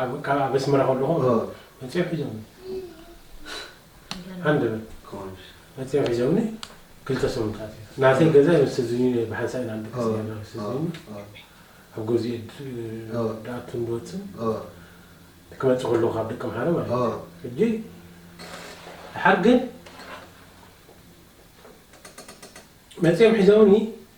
ኣብ ካብ ኣብ ኣስመራ ከለኹ መጺኦም ሒዞምኒ ሃንደበት መጺኦም ሒዞምኒ ክልተ ሰሙን ተኣሲረ ናተይ ገዛ ምስ ህዝቢ ብሓንሳእ ኢና ንድቅስ ነርና ምስ ህዝቢ ኣብ ገዝኡ ድኣቱን ድወፅን ክመፅእ ከለኹ ካብ ደቂ ኣምሓረ ማለት እዩ ሕጂ ድሓር ግን መፂኦም ሒዞምኒ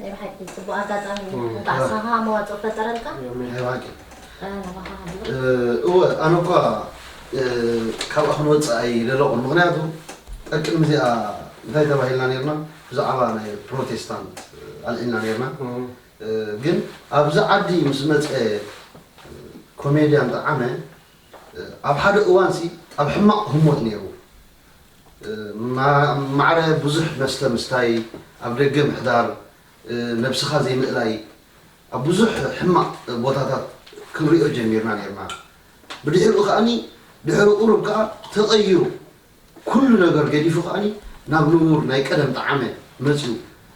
ናይ ብሓቂ ጽቡቅ ኣጋጣሚ እዩ እንቃዕ ኣስማካ መዋጽኦ ፈጠረልካ ናይ ብሓቂ እወ ኣነ እኳ ካብኣ ክንወፅእ ኣይደለኹን ምክንያቱ ጠቅድሚ እዚኣ እንታይ ተባሂልና ነርና ብዛዕባ ናይ ፕሮቴስታንት ኣልዒልና ነርና ግን ኣብዚ ዓዲ ምስ መፀ ኮሜድያን ጠዓመ ኣብ ሓደ እዋንሲ ኣብ ሕማቕ ህሞት ነይሩ ማዕረ ብዙሕ መስተ ምስታይ፣ ኣብ ደገ ምሕዳር፣ ነብስኻ ዘይምእላይ ኣብ ብዙሕ ሕማቕ ቦታታት ክንሪኦ ጀሚርና ኔርና። ብድሕሪኡ ከኣ ድሕሪ ቁሩብ ከኣ ተቐይሩ ኩሉ ነገር ገዲፉ ከኣ ናብ ንቡር ናይ ቀደም ጠዓመ መጺኡ።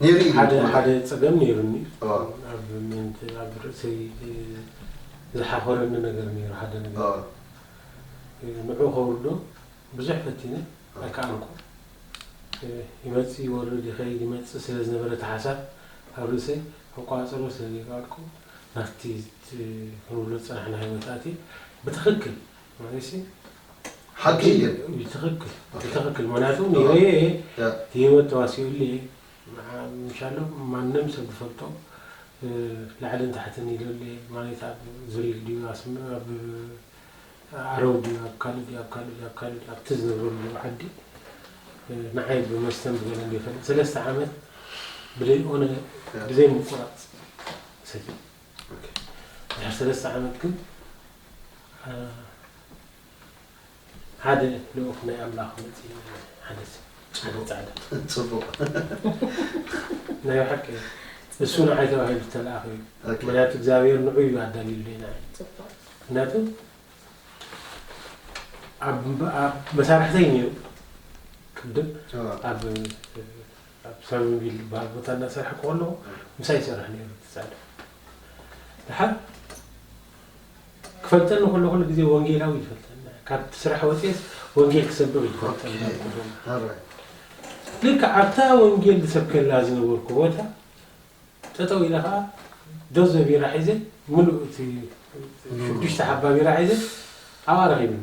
ነይሩ እዩ ሓደ ሓደ ጸገም ነይሩኒ ኦ። ኣብ ምንት ኣብ ርእሰይ እ፣ ዝሓኾረኒ ነገር ነይሩ ሓደ ነገር ኦ። እ፣ ንዑ ከውርዶ ብዙሕ ፈቲነ ኣይከኣልኩ እ፣ ይመጽእ ይወርድ ይኸይድ ይመጽእ ስለ ዝነበረ እቲ ሓሳብ ኣብ ርእሰይ ክቆጻጸሮ ስለ ዘይከኣልኩ ናብቲ እቲ ክንብሎ ዝጸናሕና ህይወት ኣትየ ብትኽክል ሓቂ እዩ ብትክክል ብትክክል ምክንያቱ ኒሆየ ህይወት ተዋሲኡሉ እየ ምሻሎ ማንም ሰብ ዝፈልጦ ላዕልን ታሕትን ኢለሉ እየ ማለት ኣብ ዙሪክ ድዩ ኣብ ዓረው ድዩ ኣብ ካልእ ድዩ ኣብ ካልእ ድዩ ኣብ ካልእ ድዩ ኣብቲ ዝነብረሉ ዓዲ ንዓይ ብመስተን ብገለን ዘይፈልጥ ሰለስተ ዓመት ብዘይኦነ ብዘይምቁራፅ ሰትዩ ድሕሪ ሰለስተ ዓመት ግን ሓደ ልኡኽ ናይ ኣምላኽ መፅእ ሓደ ጫደ ፃዕዳ ፅቡቕ ናይ ብሓቂ እሱ ንዓይ ተባሂሉ ዝተለኣኸ እዩ ምክንያቱ እግዚኣብሔር ንዑ እዩ ኣዳልዩሉ ኢና ምክንያቱ መሳርሕተይ ነይሩ ቅድም ኣብ ኣብ ሳርቪንቪል ዝበሃል ቦታ እናሰርሐ ከለኹ ምሳይ ይሰርሕ ነይሩ እቲ ጻድፍ። ድሓር ክፈልጠኒ ከሎ ኩሉ ግዜ ወንጌላዊ ይፈልጠኒ ካብቲ ስራሕ ወፅኤስ ወንጌል ክሰብኽ ይፈልጠኒ ልክዕ ኣብታ ወንጌል ዝሰብከላ ዝነበርኩ ቦታ ጠጠው ኢለ ከዓ ዶዘ ቢራ ሒዘ ምሉእ እቲ ሽዱሽተ ሓባ ቢራ ሒዘ ኣብኣ ረኺብኒ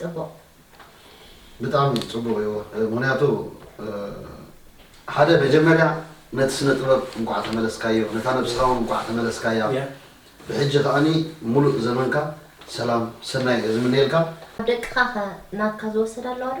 ጽቡቅ። ብጣዕሚ ጽቡቅ እዩ ምክንያቱ ሓደ መጀመርያ ነቲ ስነ ጥበብ እንቋዕ ተመለስካዮ ነታ ነብስካ ውን እንቋዕ ተመለስካያ ብሕጂ ከኣኒ ሙሉእ ዘመንካ ሰላም ሰናይ እየ ዝምነየልካ። ኣብ ደቅኻ ከ ናትካ ዝወሰዳ ኣለዋ ዶ?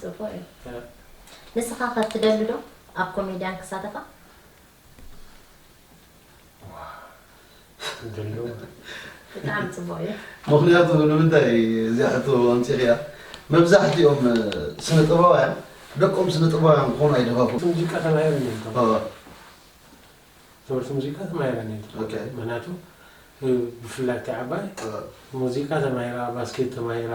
ጽቡቅ እዩ ንስኻ ከ ትደሊ ዶ ኣብ ኮሜድያን ክሳተፋ? ብጣዕሚ ጽቡቅ እዩ። ምኽንያቱ ንምንታይ እዚኣ ሕቶ ኣምጺኽያ መብዛሕትኦም ስነ ጥበባውያን ደቆም ስነ ጥበባውያን ክኾኑ ኣይደፋፍኡን። ሙዚቃ ተማሂረን እየን ተማሂረን ትምህርቲ ሙዚቃ ተማሂረን እየን ምኽንያቱ ብፍላይ እታ ዓባይ ሙዚቃ ተማሂራ ባስኬት ተማሂራ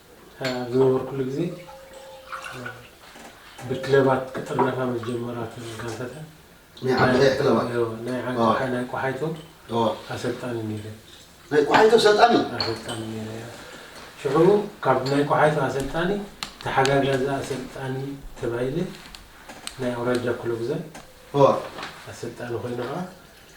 ኣብ ዝነበርኩሉ ግዜ ብክለባት ክጥርነፋ ምስ ጀመራ እተን ጋንታታት ናይ ዓዲ ቀይሕ ክለባት እዮ፣ ናይ ዓዲ ኦወ። ቀይሕ፣ ናይ ቆሓይቶ ኦወ። ኣሰልጣኒ ነይረ። ናይ ቆሓይቶ ኣሰልጣኒ ኣሰልጣኒ ነይረ እያ። ሽዑ ካብ ናይ ቆሓይቶ ኣሰልጣኒ ተሓጋጋዚ ኣሰልጣኒ ተባሂለ ናይ ኣውራጃ ክለብ ዘን ኦወ። ኣሰልጣኒ ኮይኑ ከዓ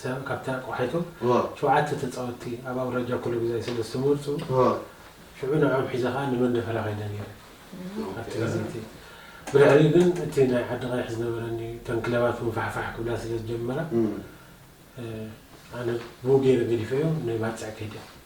ሰም ካብቲ ኣቆሓይቶ ሸውዓተ ተጻወትቲ ኣብ ኣውራጃ ኩሉ ግዛይ ስለ ዝተመርጹ ሽዑ ንዕኦም ሒዘ ከኣ ንመንደፈራ ከይደ ነይረ ኣብቲ ግዜ እቲ ብድሕሪኡ ግን እቲ ናይ ዓዲ ቀይሕ ዝነበረኒ እተን ክለባት እውን ፋሕፋሕ ክብላ ስለ ዝጀመራ ኣነ ብኡ ገይረ ገዲፈዮ ንባጽዕ ከይደ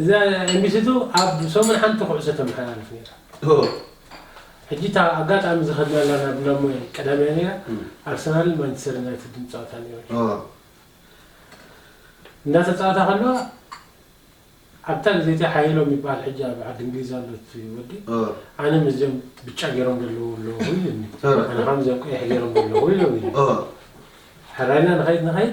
እዛ ኤምቢሲቱ ኣብ ሰሙን ሓንቲ ኩዕሶ ተመሓላልፍ ነይራ። ሕጂ እታ ኣጋጣሚ ዝኸድናላ ናብ ላሞይ ቀዳም እያ ነይራ። ኣርሰናልን ማንቸስተር ዩናይትድን ጸወታ ነይሩ። እንዳተጻወታ ከለዋ ኣብታ ግዜ እቲኣ ሓየሎም ይበሃል ሕጂ ኣብ ዓዲ እንግሊዝ ኣሎ እቲ ወዲ ኣነ ምስዚኦም ብጫ ገይሮም ዘለዉ ኣለዉ ኢሉኒ ኣነ ከዓ ምስዚኦም ቀይሕ ገይሮም ዘለዉ ኢሎም ኢሉ ሕራይና ንኸይድ ንኸይድ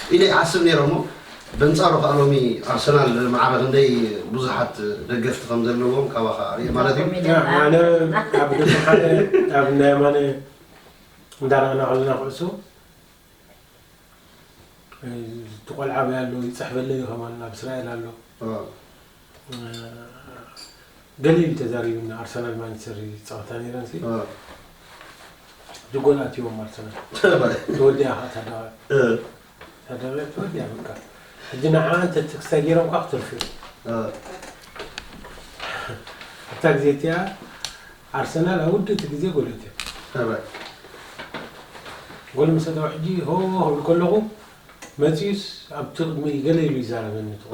ኢለ ይሓስብ ነይረ እሞ በንጻሩ ከኣ ሎሚ ኣርሰናል ማዕረ ክንደይ ብዙሓት ደገፍቲ ከም ዘለዎም ካባኻ ርኤ ማለት እዩ። ኣነ ኣብ ደቂ ሓደ ኣብ እንዳ የማነ እንዳረኣና ከለና ኩዕሶ እቲ ቆልዓ ኣበይ ኣሎ ይጽሕፈለይ ከማን ኣብ እስራኤል ኣሎ ገሊል ተዛሪብና ኣርሰናል ማንቸስተር ዝፃወታ ነይረን ሲ ድጎል ኣትዎም ኣርሰናል ተወዲያ ከዓ ታደቀ ታደቀ ተወዲያ በቃ ሕጂ ንዓ እንተ ክስታይ ገይሮም ከዓ ክትርፊ ኣብታ ግዜ እቲኣ ኣርሰናል ኣብ ውድእቲ ግዜ ጎል ኣትዮም ጎል ምስ ኣተው ሕጂ ሆ ክብል ከለኹ መፅዩስ ኣብቲ ቅድሚ ገለ ኢሉ ይዛረበኒ ትቆ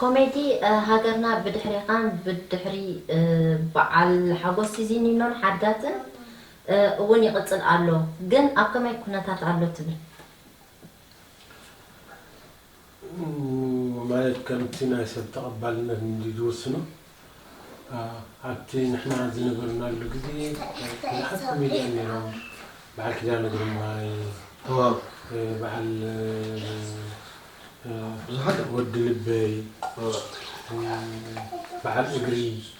ኮሜዲ ሃገርና ብድሕሬኻን ብድሕሪ በዓል ሓጎስ ሲዚኒኖን ሓዳትን እውን ይቕፅል ኣሎ ግን ኣብ ከመይ ኩነታት ኣሎ ትብል? ማለት ከምቲ ናይ ሰብ ተቐባልነት እንድዩ ዝውስኖ፣ ኣብቲ ንሕና ዝነበርናሉ ግዜ ብዙሓት ኮሜድያን ነይሮም፣ በዓል ኪዳነ ግርማይ፣ በዓል ወዲ ልበይ፣ በዓል እግሪ፣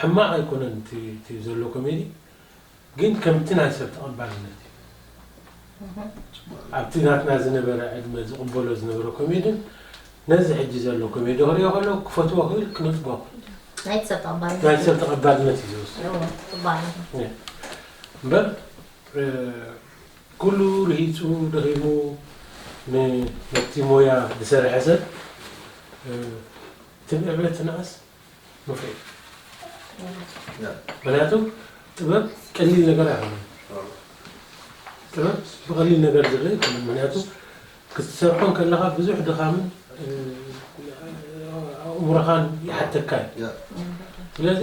ሕማቅ ኣይኮነን እቲ ዘሎ ኮሜዲ ግን ከምቲ ናይ ሰብ ተቀባልነት እዩ ኣብቲ ናትና ዝነበረ ዕድመ ዝቅበሎ ዝነበረ ኮሜድን ነዚ ሕጂ ዘሎ ኮሜዲ ክሪኦ ከለኩ ክፈትዎ ክብል ክነጽጎ ናይ ሰብ ተቀባልነት እዩ ዝወስድ እምበር ኩሉ ርሂጹ ደኺሙ ነቲ ሞያ ዝሰርሐ ሰብ ትምዕበት ትንኣስ ምኽሪ ምክንያቱ ጥበብ ቀሊል ነገር ኣይኮነን ጥበብ ብቐሊል ነገር ዝርእ ኣይኮነን ምክንያቱ ክትሰርሖ ከለኻ ብዙሕ ድኻምን ኣእምሮኻን ይሓተካ እዩ ስለዚ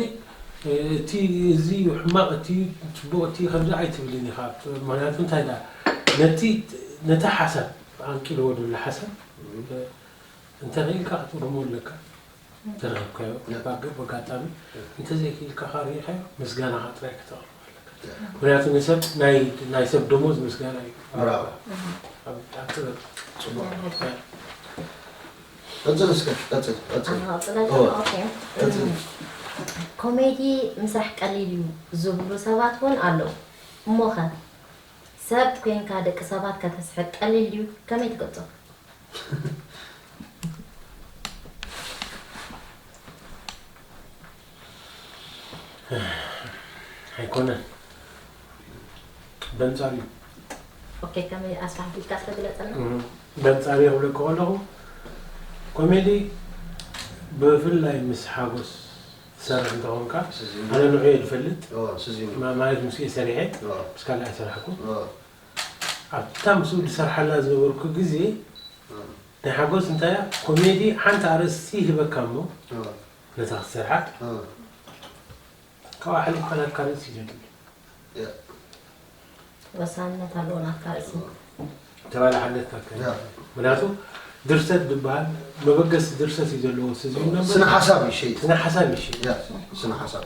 እቲ እዚ ሕማቕ እቲ ፅቡቕ እቲ ከምዚ ኣይትብልን ኢኻ ምክንያቱ እንታይ ዳ ነቲ ነቲ ሓሳብ ኣንቂልዎ ዘሎ ሓሳብ እንተኽኢልካ ክትርሞ ኣለካ ዝተረኸብካዮ ኩነታት ግን በጋጣሚ እንተዘይክኢልካ ከኣ ርኢኻዮ ምስጋናኻ ጥራይ ከተቕርብ ኣለካ ምክንያቱ ንሰብ ናይ ሰብ ደሞዝ ምስጋና እዩ ኣብ ጥበብ ጽቡቕ ቀጽል እስከ ቀጽል ቀጽል ቀጽል ኮሜዲ ምስራሕ ቀሊል እዩ ዝብሉ ሰባት እውን ኣለዉ እሞኸ ሰብ ኮንካ ደቂ ሰባት ከተስሕቅ ቀሊል ድዩ ከመይ ትገልጾ ኣይኮነን በንጻሩ እዩ ኦኬ ከመይ ኣስፋሕፊልካ ዝተግለጸልና በንጻሩ የብለካ ከለኹ ኮሜዲ ብፍላይ ምስ ሓጎስ ትሰርሕ እንተኾንካ ኣነ ንዑ እየ ዝፈልጥ ማለት ምስ እየ ሰሪሐ ምስ ካልእ ኣይሰራሕኩ ኣብታ ምስኡ ዝሰርሓላ ዝነበርኩ ግዜ ናይ ሓጎስ እንታያ ኮሜዲ ሓንቲ ኣርእስቲ ይህበካ እሞ ነታ ክትሰርሓ ካብኣ ሓሊፍካ ናትካ ርእሲ ዘድሊ ወሳንነት ኣለዎ ናትካ ርእሲ ተባላሓነትካ ከ ምክንያቱ ድርሰት ዝበሃል መበገሲ ድርሰት እዩ ዘለዎ ስነ ሓሳብ እዩ ሸይጥ ስነ ሓሳብ እዩ ሸይጥ ስነ ሓሳብ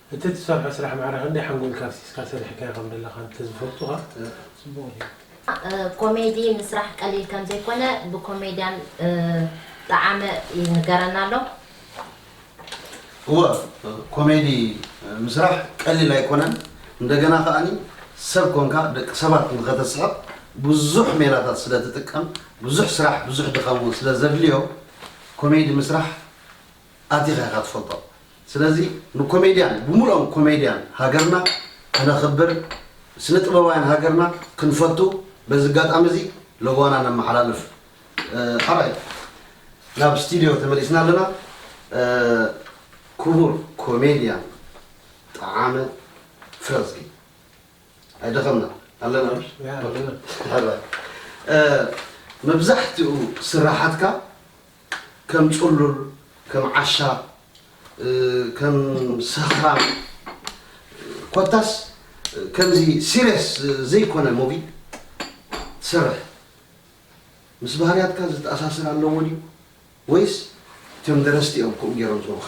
እቲ ትሰርሖ ስራሕ ማዕረ ክንደይ ሓንጎልካ ኣፍሲስካ ሰሪሕካዮ ከም ዘለኻ እንተዝፈልጡ ከኣ ጽቡቕ ኔሩ። ኮሜዲ ምስራሕ ቀሊል ከም ዘይኮነ ብኮሜድያን ጠዓመ ይንገረና ኣሎ። እወ ኮሜዲ ምስራሕ ቀሊል ኣይኮነን እንደገና ከኣ ሰብ ኮንካ ደቂ ሰባት ንኸተስሕቕ ብዙሕ ሜላታት ስለ ትጥቀም ብዙሕ ስራሕ ብዙሕ ድኻም ውን ስለ ዘድልዮ ኮሜዲ ምስራሕ ኣቲኻ ኢኻ ትፈልጦ ስለዚ ንኮሜድያን ብሙሉኦም ኮሜድያን ሃገርና ከነኽብር ስነ ጥበባውያን ሃገርና ክንፈቱ በዚ ኣጋጣሚ እዚ ለበዋና ነመሓላልፍ ሐራይ ናብ ስቲድዮ ተመሊስና ኣለና ኩቡር ኮሜድያን ጠዓመ ፍረዝጊ ኣይደኸምና ኣለና ሐራይ መብዛሕትኡ ስራሓትካ ከም ጽሉል ከም ዓሻ ከም ሰኽራም ኮታስ ከምዚ ሲርየስ ዘይኮነ ሙቪ ትሰርሕ ምስ ባህርያትካ ዝተኣሳሰር ኣለዎ ድዩ ወይስ እቶም ደረስቲ እዮም ከምኡ ጌሮም ዝህቡኻ?